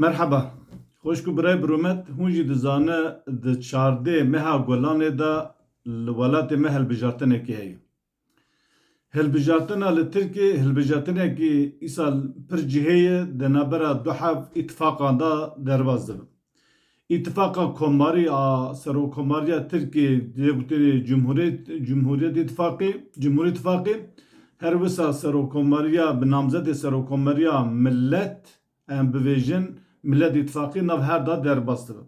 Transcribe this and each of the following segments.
Merheba. Xweş ku birayê Biromet hûn jî dizane di çardê meha Golanê de li welatê me hilbijartinekî heye. Hilbijartina li Tirkê hilbijartinekî îsal pir cihê ye di navbera du hev îtîfaqan de derbas dibin. Îtifaqa Komarî a Serokkomariya Tirkiyê dê gotinê Cumhuriyet Îtifaqê, her wisa Serokkomariya bi namzetê Serokkomariya Milet, em bivêjin Milet Îtifaqê nav her da derbas dibe.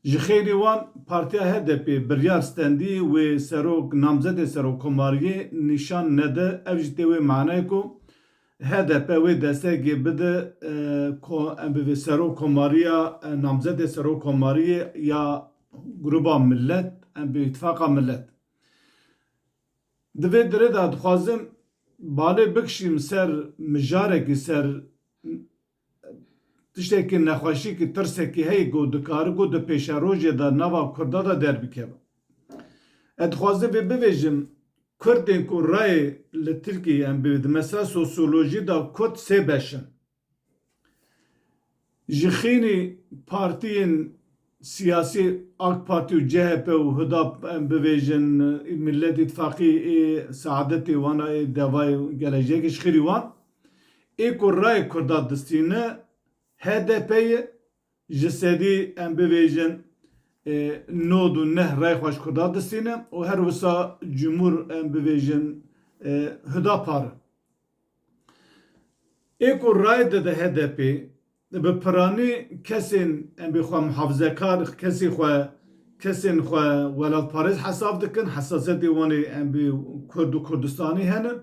Ji xeyrê wan Partiya HDP'ê biryar stendî wê serok namzetê Serokkomariyê nîşan nede ev jî tê wê manayê ku Hdp wê destekê bide ku em bi vê Serok Komariya, namzedê Serok Komariyê ya Grûba Milet, em bi Îtfaqa Milet. Di vê derê de dixwazim balê bikişîm ser mijarekî, ser Tiştekî nexweşîkî, tirsekî heye ku dikare ku di pêşerojê de nava Kurda de derbikeve. Ez dixwazim vê bivêjim, Kurdên ku rayê li Tirkiyeyê em bi di mesela sosyolojî de Kurd sê beş in. Ji xînî partiyên. Siyasî ak Partî û CHP û Hudap em bivêjin Millet Îtfaqî ê seadetê wana ê devayê gelejiyekê ji xêrî wan ê ku rayê kurda distîne hdp ye ji sedî em bivêjin nod û neh rayê xwe ji kurda distîne û her wisa cumhur em bivêjin Hudapar e. Ê ku rayê dide hdp Bi piranî kesên em bê xwe mihafizekar, kesê xwe, kesên xwe welatparêz hesab dikin, hesasiyetê wan ê em bê Kurd û Kurdistanî henin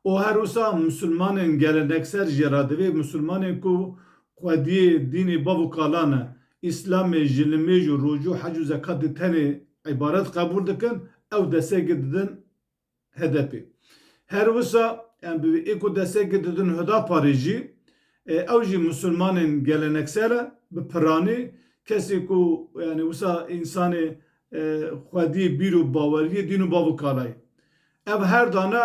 û her wisa Musulmanên gelenekser jî re divê Musulmanên ku xwediyê dînê bav û kala ne, Îslamê ji nimêj û rojû hec û zekatê tenê îbaret qebûl dikin, ew destekê didin HDP. Her wisa em bi vê ku destekê didin Hudaparê jî, ew jî misilmanên geleneksel e, bi piranî, kesê ku yanî wisa însanê xwedî, bîr û baweriyê, dîn û bav û kalayê. Ev her dane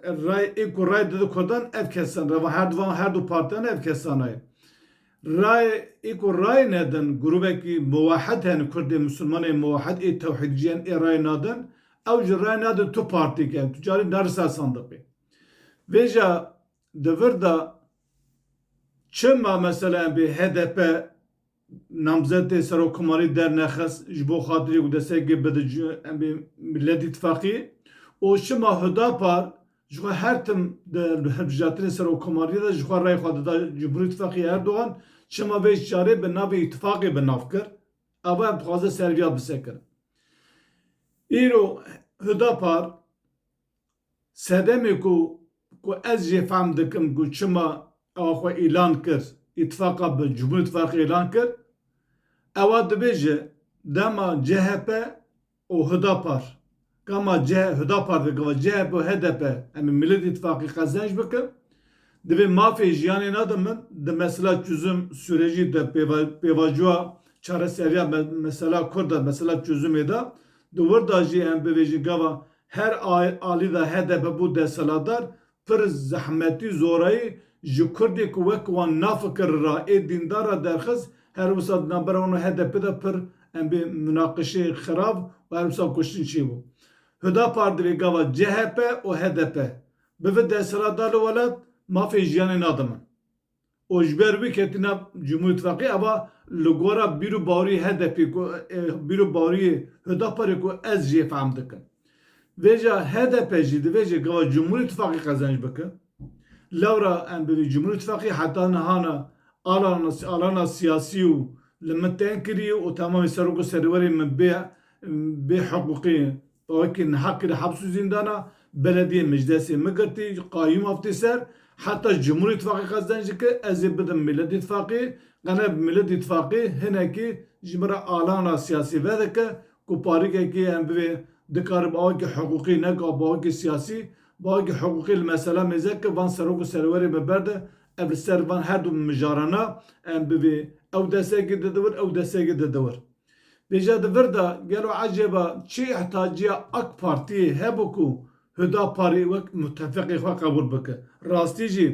rayê ku rayê dide kurdan ev kesan re va herdu van herdu partiyane ev kesana ye. Rayê ê ku rayê nedin grûbekî muwehed hene kurdê misilman ê muwehed ê tewhîdcî yên ê rayê nadin ew jî rayê nadin tu partî ke tu carî neri ser sandiqê. Vêja di vir de çima mesela em bê hdp namzetê serokkomarî dernexist ji bo xatirê ku destpêkê bidicû em bê Milletîtfaqî û çima hudapar Ji xwe her tim di hilbijartinên serokkomariyê de jixwe rayê xwe dida Cumhurî Tifaqê Erdogan, çima vê carê bi navê îtifaqê bi nav kir, ava em dixwazin ser vîya bisekirin. Îro Hudapar sedemê ku ku ez jê fehm dikim ku çima ewa xwe îlan kir, îtifaqa bi Cumhurî Tifaqê îlan kir, ewa dibêje dema chp û Hudapar. Kama ce Hudapar dike va chp û hdp em ê Millet Îtîfaqê qezenc bikin. Divê mafê jiyanê na de min di mesela çuzum sûrejî de pêvajoya çareseriya mesela kurd de mesela çuzumê de di wir de jî em bivêjin gava her alî de hdp bû desthilatdar pir zehmetî zorayî ji kurdê ku wek wan nafikir ra ê dîndar ra derxist her wisa di navbera wan û HDPê de pir em bê munaqişeyê xirav û her wisa kuştin çêbû. Hudapar di vê gava chp û hdp bi vi desthilat da li welat mafê jiyanê nadin min. û ji ber wî ketine Cumhurîtfaqê eva li gora bîr û bawrî HDP'ê ku bîr û bawrîyê Hudaparê ku ez jê fehm dikim. Vêca hdp jî divêjê gava Cumhurîtfaqê qezenc bike. Lewra em bi vî Cumhurîtfaqê heta niha ne alana siyasî û li min teng kirî û temamê serok û serêwerên min bê bê hiqûqî Weke niha kir heps û zîndana belediyê Miclesê min girtî, qayûm aftî ser, heta ji Cumhur Îtfaqê qezdenc dike ez ê bidim Millet Îtfaqê, qene bi Millet Îtfaqê hinekî ji min re alana siyasî vedike ku parîkekê em bivê dikare bi awekî hiqûqî ne ka bi awekî siyasî, bi awekî hiqûqî li mesela mêze ke van Serok û Serwerê me berde ev li ser van her du mijarana em bivê ew destekê di dewir ew destekê di dewir. Bêje di vir de gelo ecêba çi ihtacîya ak partiyê hebû ku Hudaparî wek mutefîqê xwe qebûl bike? Rastî jî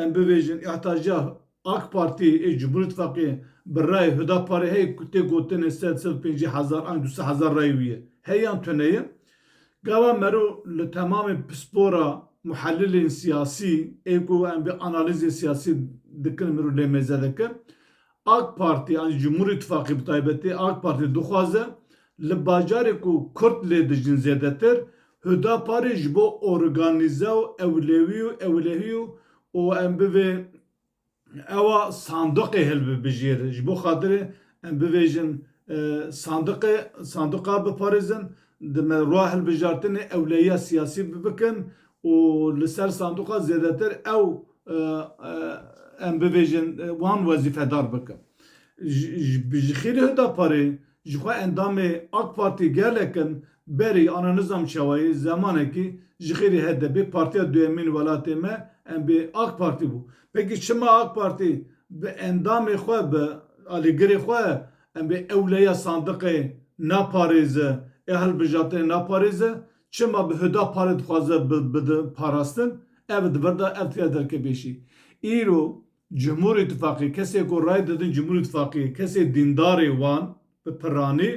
em bibêjin ihtacîya ak partiyê ê Cumhur Îtfaqiyê bi rayê Hudaparê heye ku tê gotinê sed, sed û pêncî hezar an du sed hezar rayê wî ye. Heye yan tune ye? Gava mero li temamê pispora muhelilên siyasî ê ku em vê analîzê siyasî dikin mero lê mêze dike. Ak Partî yanî Cumhur Îtîfaqê bi taybetî Ak Partî dixwaze li bajarê ku Kurd lê dijîn zêdetir Hudaparê ji bo organîze û ewlewî û ewlehî û em bivê ewa sanduqê hilbibijêr ji bo xatirê em bivêjin sanduqê sanduqa biparêzin di me rwa hilbijartinê ewlehiya siyasî bikin û li ser sanduqa zêdetir ew em bibêjin wan wezîfedar bikin. Ji xêrê Hudaparê jixwe endamê AK Partî gelek in berî ana nizam çawayî zemanekî ji xêrê HDPê partiya duyemîn welatê me em bê AK Partî bû. Pekî çima AK Partî bi endamê xwe bi alîgirê xwe em bê ewleya sandiqê naparêzi ê hilbijartinê naparêzi Çima bi huda parê dixwaze bidin parastin, ev di vir de ev têya derkepêşî. Îro Cumhur Îtîfaqê kesê ku rayê didin Cumhur Îtîfaqê kesê dîndarê wan bi piranî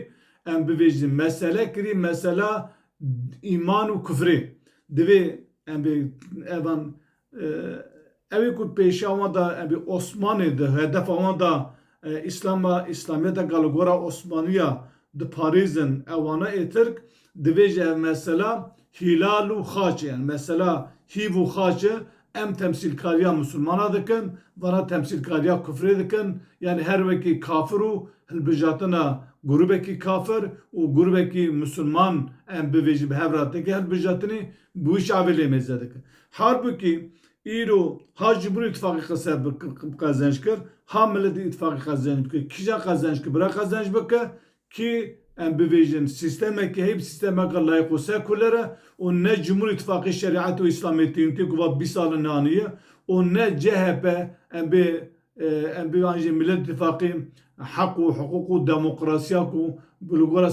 em bivêjin mesele kirî mesela îman û kufrê. Divê em bê evan Ew ê ku pêşiya wan de evî Osmanê di hedefa wan de Îslam a, Îslamiyeta ka li gora Osmanî ya diparêzin ewana ê Tirk divê ji ev mesela hîlal û xaçê yan mesela hîv û xaçê em temsîlkariya misilmana dikin vana temsîlkariya kufrê dikin yanî her wekî kafir û hilbijatina grûbekî kafir û grûbekî misilman em bivêjin bi hev re têke hilbijatinî Guy Şavi lê mêze dike. Halbukî îro ha ji ber îtfaqê qise bi qezenc kir, ha miletê îtfaqê qezenc bike. Kîjan qezenc kir? Bira qezenc bike kî em bivêjin sîstemekî heye bi sîstemeke layîq û sekuler e û ne cumhur îtfaqê şerîet û îslamê tîntê ku va bîst sal in anî ye û ne chp em bê Em pê an jî Milletî Tifaqê heq û hiqûq û demokrasiya ku bi li gora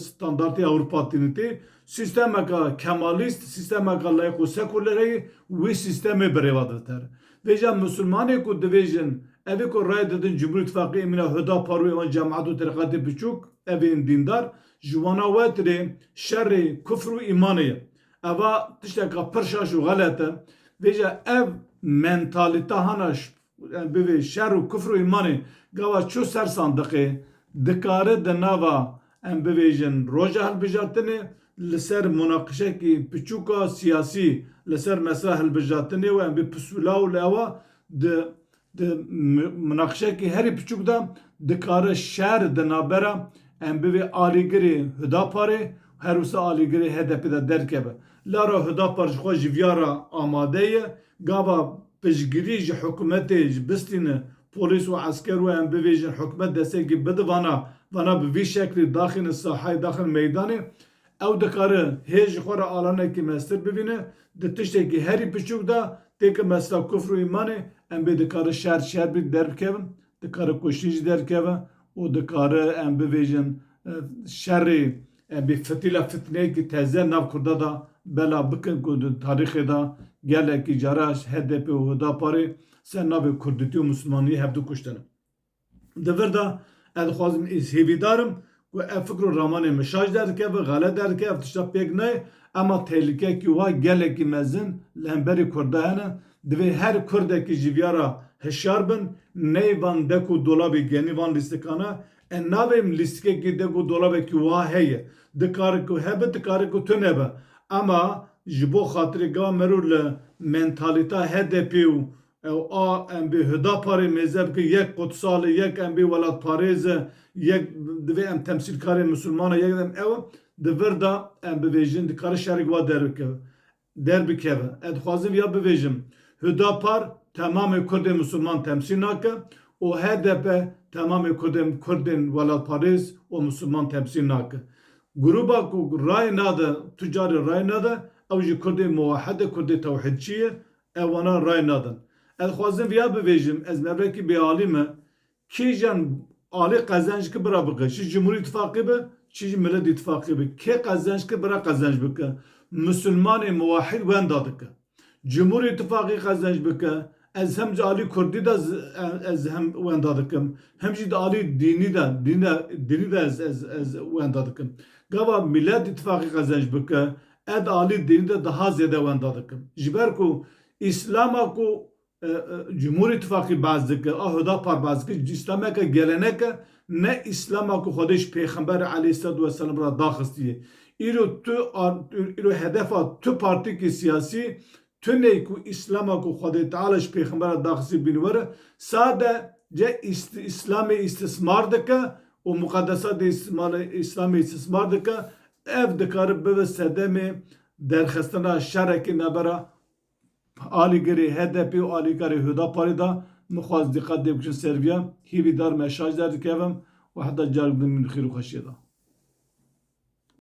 standartê Ewropa tîne tê, sîstemeke kemalîst, sîstemeke layîq û sekulere ye, wî sîstemê bi rêva diditer. Vê jî em misilmanê ku dibêjin evê ku rayê didin Cumhurî Tifaqê ê mîna Hudapar û êwan cemat û terîqetê biçûk, evê ên dîndar, ji wana we tirê şerê kufr û îmanê ye. Eva tişteka pir şaş û xelet e. Vêca ev mentalîta hana bivê şer û kufr û îmanê gava çu ser sandiqê, dikare di nava em bivêjin roja hilbijartinê li ser munaqişekî piçûka siyasî li ser mesela hilbijartinê û em bê pisûla û li ewa di Di munaqişeyekî herî piçûk de dikare şer di navbera em bivê alîgirê Hudaparê û her wisa alîgirê HDPê de derkeve. Lara Hudapar ji xwe ji viya re amade ye. Gava piştgirî ji hikûmetê ji bistîne polîs û esker û em bivêjin hikûmet destekî bide vana vana bi vî şeklî daxîne sahayê daxin meydanê. Ew dikare hê ji xwe re alanekî meztir bibîne, di tiştekî herî piçûk de tê ke mesela kufr û îmanê em bê dikare şer şer bî derbikeve, dikare kuştin jî derkeve û dikare em bivêjin şerê em bê fitîla fitneyekî teze nav kurda de belav bikin ku di tarîxê de gelekî caran hdp û hudaparê ser navê kurditî û mislimaniyê hevdu kuştine. Di vir de ez dixwazim îz hêvîdar im ku ev fikr û ramanên min şaş derdikevin, xelet derdikevin, ev tişta pêk nayê. Ema tehlîkeyekî wiha gelekî mezin li hemberî kurd de hene. Divê her kurdekî ji viya re hişyar bin. Neyê van dek û dolabî genî van lîstikane. E navêm lîstikekî dek û dolabekî wiha heye. Dikare ku hebe, dikare ku tu nebe. Ema ji bo xatirê gava merû li mentalîteya HDP'ê û Ew a em bê Hudaparê mêze bikin, yek qudsal e, yek em bê welatparêz e, yek divê em temsîlkarê misilman e, yek em ew in, di vir de em bivêjin, dikare şerek wa derbikeve. Ez dixwazim ya bivêjim, Hudapar temamê Kurdên misilman temsîl nake û hdp temamê Kurdên Kurdên welatparêz û misilman temsîl nake. Grûba ku rayê nade, tu carî rayê nade, ew jî Kurdê muwehed e, Kurdê tewhîdçî ye, Ew wana ray nadin. Ez dixwazim viya bivêjim, ez mevekî bêalî me, kê jiyan alî qezenc ki bira bike, çi Cumhurî Îtîfaqî be, çi jî Milet Îtîfaqî be, kê qezenc ki bira qezenc bike, Musulmanê muwahîd wenda dike. Cumhurî Îtîfaqî qezenc bike, ez him di alî Kurdî de ez him wenda dikim, him jî di alî dînî de, dînî de ez wenda dikim. Gava Milet Îtîfaqî qezenc bike, Ed alî dîn de daha zêde wenda dikim. Ji ber ku Îslama ku Cumhur Îtîfaqî behs dike a Hudapar behs dike ji Îslameke gelenek e ne Îslama ku Xwedê ji Pêxember eleyhisselatu weselam re daxistiye. Îro tu îro hedefa tu partîkê siyasî Tunê ku Îslama ku Xwedê Teala ji Pêxembera da xizî bîn were, sade ce Îslamê îstismar dike û muqedesatê Îslamê îstismar dike, ev dikare bibe sedemê derxistina şerekî navbera alîgirê HDP'ê û alîkarê Hudaparê da. Min xwest dîqet lê bikin ser vîya hîvîdar me şaş derdikevim û heta carek din min bi xêr û xweşiyê da.